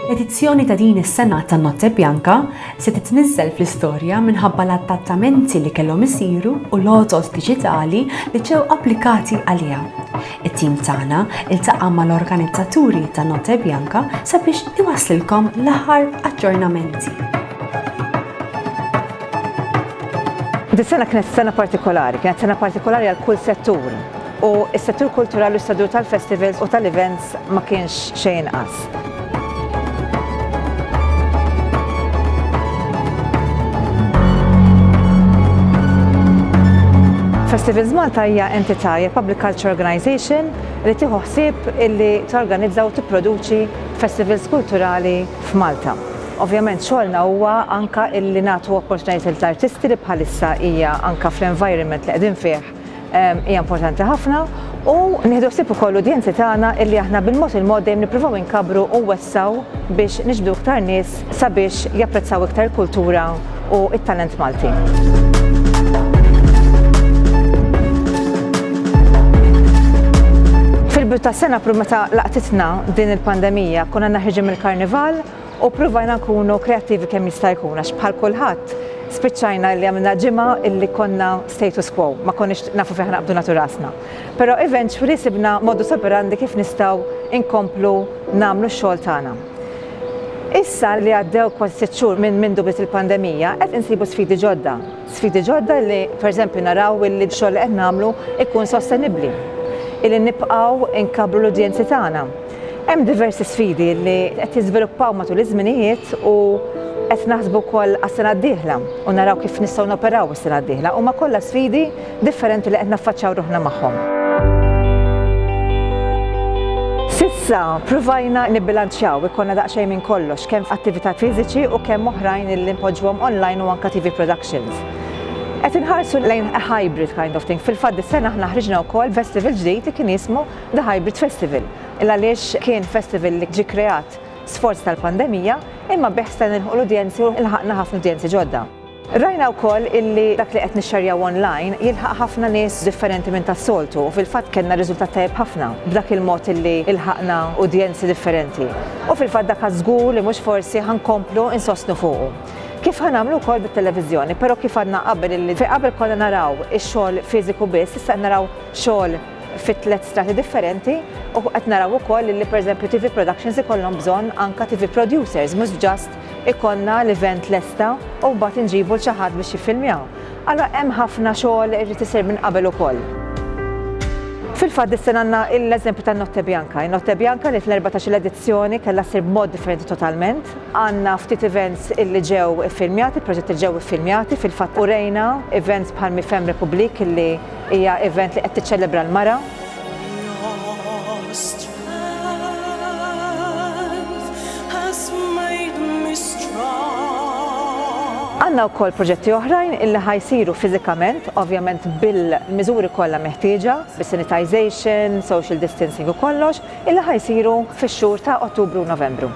L-edizzjoni ta' din is-sena ta' Notte Bianca se titniżżel fl-istorja minħabba l-adattamenti li kellhom isiru u l-għodod diġitali li ġew applikati għaliha. It-tim tagħna ltaqa' mal-organizzaturi ta' Notte Bianca sabiex iwasslilkom l-aħħar aġġornamenti. Dis-sena kienet sena partikolari, kienet sena partikolari għal kull settur. u s-settur kulturali u s-settur tal-festivals u tal-events ma kienx xejn inqas. Festivals Malta hija entità hija public culture organization li tieħu ħsieb illi torganizza u tipproduċi festivals kulturali f'Malta. Ovvjament xogħolna huwa anke illi nagħtu opportunitajiet lill-artisti li bħalissa hija anke fl-environment li qegħdin fih hija importanti ħafna u nieħdu ħsieb ukoll l-udjenzi tagħna illi aħna bil-mod il-mod dejjem nippruvaw inkabru u wessaw biex niġbdu iktar nies sabiex japprezzaw iktar kultura u it-talent Malti. Fil-bidu tas-sena pru meta laqtitna din il-pandemija konna naħriġu mill-karnival U ppruvajna nkunu kreattivi kemm jista' jkun għax bħal kulħadd spiċċajna li għamilna ġimgħa li konna status quo, ma konniex nafu fejn ħa naqbdu nagħtu rasna. Però eventually sibna modus operandi kif nistgħu nkomplu nagħmlu x-xogħol tagħna. Issa li għaddew kważi sitt xhur minn mindu bdiet il-pandemija, qed insibu sfidi ġodda. Sfidi ġodda li, per eżempju, naraw illi x-xogħol li qed nagħmlu jkun sostenibbli, illi nibqgħu nkabbru l-udjenzi tagħna. Hemm diversi sfidi li qed jiżviluppaw matul iż-żminijiet u qed naħsbu wkoll għas-sena d-dieħla u naraw kif nistgħu noperaw is-sena d-dieħla. Huma kollha sfidi differenti li qed naffaċċaw ruħna magħhom. S'issa pruvajna nibbilanċjaw, ikollna daqsxejn minn kollox, kemm f'attività fiżiċi u kemm oħrajn li npoġġuhom online u anke TV productions. Qed inħarsu lejn a hybrid kind of thing. Fil-fatt dis-sena aħna ħriġna wkoll festival ġdid li kien jismu The Hybrid Festival, il għaliex kien festival li ġie kreat sforz tal-pandemija imma bih stajna nilħqu l-udjenzi u lħaqna ħafna udjenzi ġodda. Rajna wkoll illi dak li qed nixxerjaw online jilħaq ħafna nies differenti minn tas-soltu u fil-fatt kellna riżultat tajjeb ħafna b'dak il-mod illi lħaqna udjenzi differenti u fil-fatt dak żgur li mhux forsi ħa nkomplu nsostnu fuqu kif ħa nagħmlu wkoll bit-televiżjoni però kif għadna qabel illi fejn qabel konna naraw ix-xogħol fiżiku biss issa qed naraw xogħol fi tliet strati differenti u qed naraw ukoll li pereżempju TV productions ikollhom bżonn anka TV producers mhux just ikollna l-event lesta u mbagħad inġibu l xi ħadd biex jiffilmjaw. Allura hemm ħafna xogħol irid isir minn qabel ukoll. Fil-fatt dis-sena għandna l-eżempju tan-Notte Bianca. In-Notte Bianca li fl-erbatax-il edizzjoni kellha ssir b'mod differenti totalment. Għandna ftit events illi ġew iffilmjati, proġetti li ġew iffilmjati, fil-fatt urejna events bħal Mifem Republique illi Hija event li qed tiċċelebra l-mara. Għandna wkoll proġetti oħrajn illi ħa jsiru fiżikament, ovvjament bil-miżuri kollha meħtieġa, bis-sanitization, social distancing u kollox. illi ħa jsiru fix-xhur ta' Ottubru u Novembru.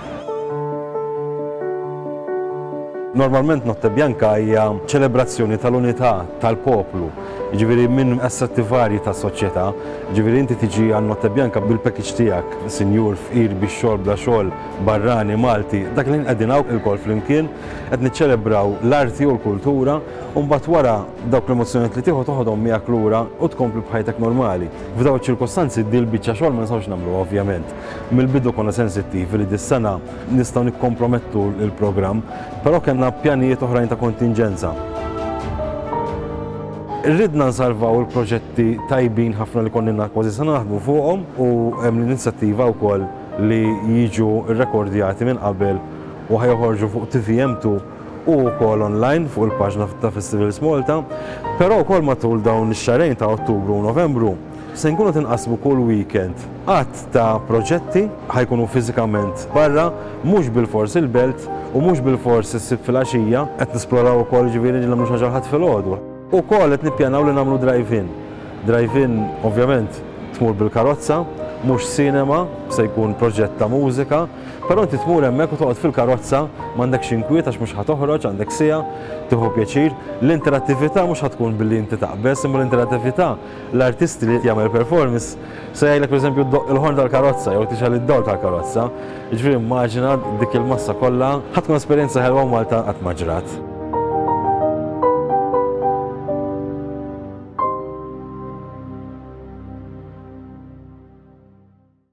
Normalment Notte Bianca hija ċelebrazzjoni tal-unità tal-poplu, jiġifieri minn assetti varji tas-soċjetà, jiġifieri inti tiġi għal Notte Bianca bil-package tiegħek, sinjur, fqir, bi xogħol, bla xogħol, barrani, Malti, dak il-ħin qegħdin hawn ilkoll flimkien, qed niċċelebraw l-arti u l-kultura u mbagħad wara, Dawk l-emozzjonijiet li tieħu toħodhom miegħek lura u tkompli b'ħajtek normali. F'dawn iċ-ċirkustanzi din il-biċċa xogħol ma nistgħux nagħmluha ovvjament. Mill-bidu konna sensittivi li dis-sena nistgħu nikkompromettu l-programm, però kellna pjanijiet oħrajn ta' kontinġenza. Ridna nsalvaw il-proġetti tajbin ħafna li konnilna kważi sena naħdmu fuqhom u hemm l-inizjattiva wkoll li jiġu rrekordjati minn qabel u ħa joħorġu fuq TVM2 u wkoll online fuq il-paġna ta' Festivals Malta, però wkoll matul dawn ix-xahrejn ta' Ottubru u Novembru se nkunu qed inqassmu kull weekend għadd ta' proġetti, ħa jkunu fiżikament barra, mhux bilfors il-Belt u mhux bilfors is-Sibt filgħaxija, qed nisploraw ukoll jiġifieri li nagħmlu xi ħaġa l-Ħadd filgħodu. Ukoll qed nippjanaw li nagħmlu drive-in. Drive-in ovvjament tmur bil-karozza, mhux cinema, se jkun proġett ta' mużika, Però inti tmur hemmhekk u toqgħod fil-karozza, m'għandekx inkwiet għax mhux ħa toħroġ, għandek siegħa, tieħu pjaċir. L-interattività mhux ħa tkun billi inti taqbeż, imma l-interattività, l-artisti li jagħmel performance se jgħidlek pereżempju ddoqq il-ħorn tal-karozza jew tixgħel id-dawl tal-karozza. Jiġifieri immaġina dik il-massa kollha, ħa tkun esperjenza ħelwa u Malta qatt ma ġrat.